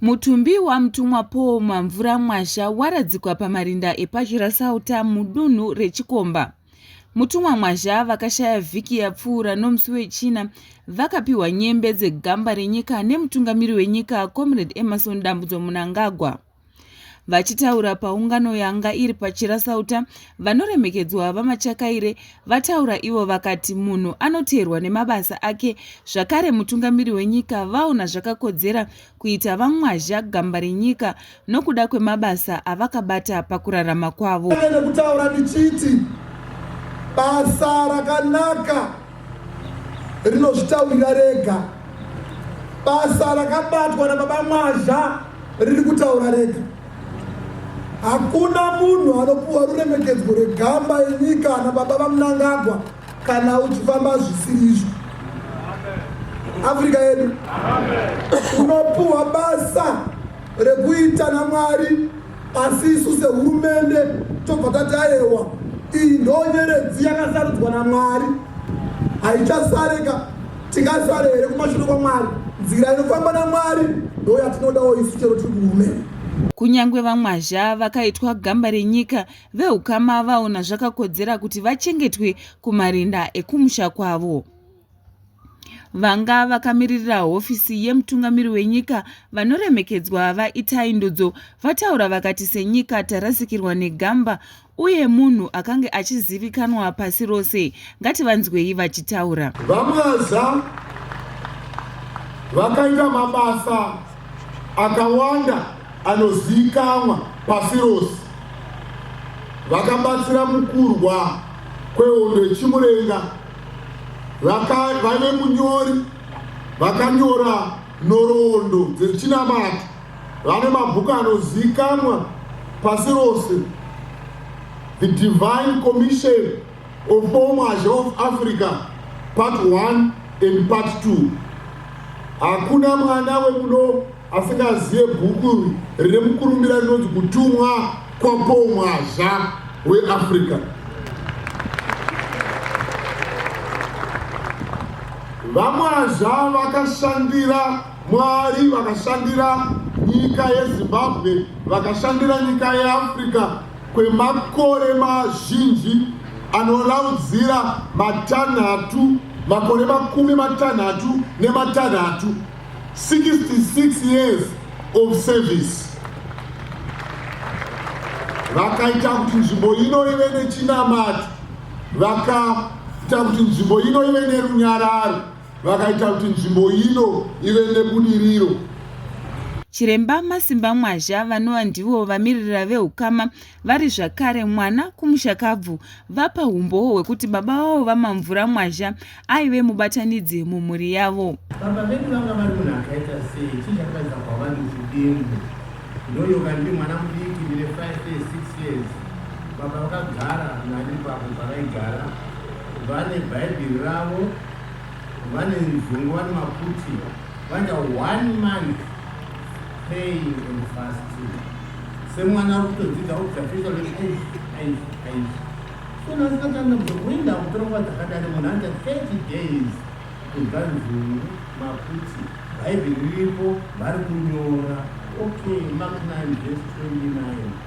mutumbi wamutumwa paul mamvura mwasha waradzikwa pamarinda epachirasauta mudunhu rechikomba mutumwa mwazha vakashaya vhiki yapfuura nomusi wechina vakapiwa nyembe dzegamba renyika nemutungamiri wenyika comrade emerson dambudzo munangagwa Vachitaura paungano yanga iri paChirasauta, vanoremekedzwa VaMachakaire vataura ivo vakati munhu anoteerwa nemabasa ake zvakare mutungamiri wenyika vaona zvakakodzera kuita VaMwazha gamba renyika nokuda kwemabasa avakabata pakurarama kwavo. Basa rakanaka rinozvitaurira rega basa rakabatwa nababa mwazha riri kutaura rega hakuna munhu anopuwa ruremekedzwo rwegamba yenyika ana baba vamunangagwa kana uchifamba zvisiri izvo afrika yedu unopuwa basa rekuita namwari Asi isu sehurumende tobva tati ayewa, iyi ndonyeredzi yakasarudzwa naMwari, haichasareka. Tingasare here kumashure kwaMwari? Nzira inofamba naMwari ndoyatinodawo isu chero tiri kuhurumende. Kunyange vamwazha vakaitwa gamba renyika, vehukama vaona zvakakodzera kuti vachengetwe kumarinda ekumusha kwavo. Vanga vakamiririra hofisi yemutungamiri wenyika vanoremekedzwa VaItai Ndudzo vataura vakati senyika tarasikirwa negamba uye munhu akange achizivikanwa pasi rose. Ngativanzwei vachitaura. VaMwaza vakaita mabasa akawanda anozivikanwa pasi rose vakabatsira mukurwa kwehondo yechimurenga vaive munyori vakanyora nhoroondo dzechinamato vane mabhuku anozivikanwa pasi rose the divine commission of Bomash of Africa part 1 and part 2 hakuna mwana wemuno asingazive bhuku rine mukurumbira rinonzi kutumwa kwapomwazha weafrica vamwazha vakashandira mwari vakashandira nyika yezimbabwe vakashandira nyika yeafrica kwemakore mazhinji anoraudzira matanhatu makore makumi matanhatu nematanhatu 66 years of service vakaita kuti nzvimbo ino ive nechinamato vakaita kuti nzvimbo ino ive nerunyararo vakaita kuti nzvimbo ino ive nebudiriro. Chiremba Masimba Mwazha vanova ndivo vamiririra vehukama vari zvakare mwana kumushakabvu vapa humbowo hwekuti baba vavo VaMamvura Mwazha aive mubatanidzi mumhuri yavo. Baba vedu vanga vari munhu akaita sei chii chakatadza kwavari muchidimbu ndoyoka ndiri mwana mudiki ndine 5 years 6 years baba vakagara nani pavo pavaigara vane bhaibheri ravo Vane nzungu vane maputi vaita one month praying and fasting semwana ari kutodzidza observation aish aish aish so nasikatanga kuenda kutora nguva dzakadari munhu anoita 30 days kubva nzungu maputi bhaibheri riripo vari kunyora okay mark 9 vese 29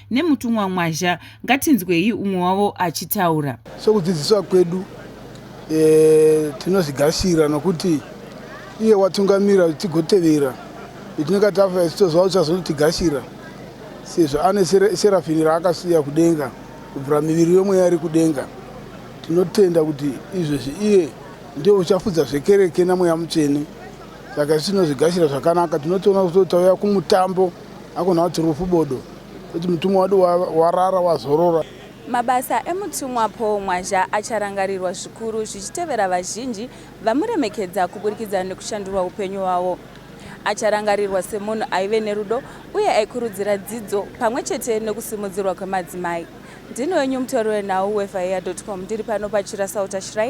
nemutumwa Mwazha. Ngatinzwei umwe wavo achitaura. Sokudzidziswa kwedu e, tinozvigasira nokuti iye watungamira tigotevera itinenge tafa ichitoziva kuti azonotigashira sezvo ane serafini raakasiya kudenga kubvira miviri yomweya iri kudenga tinotenda kuti izvezvi iye ndiye uchafudza zvekereke namweya mutsvene saka isu tinozvigashira zvakanaka tinotoona kuti tauya kumutambo Hakuna kuti rufu bodo, kuti mutumwa wadu warara wazorora. Mabasa emutumwa Paul Mwazha acharangarirwa zvikuru zvichitevera vazhinji vamuremekedza kuburikidza nekushandurwa upenyu hwavo. Acharangarirwa semunhu aive nerudo uye aikurudzira dzidzo pamwe chete nekusimudzirwa kwemadzimai. Ndini wenyu mutori wenhau wefaia.com ndiri pano pachirasauta shrine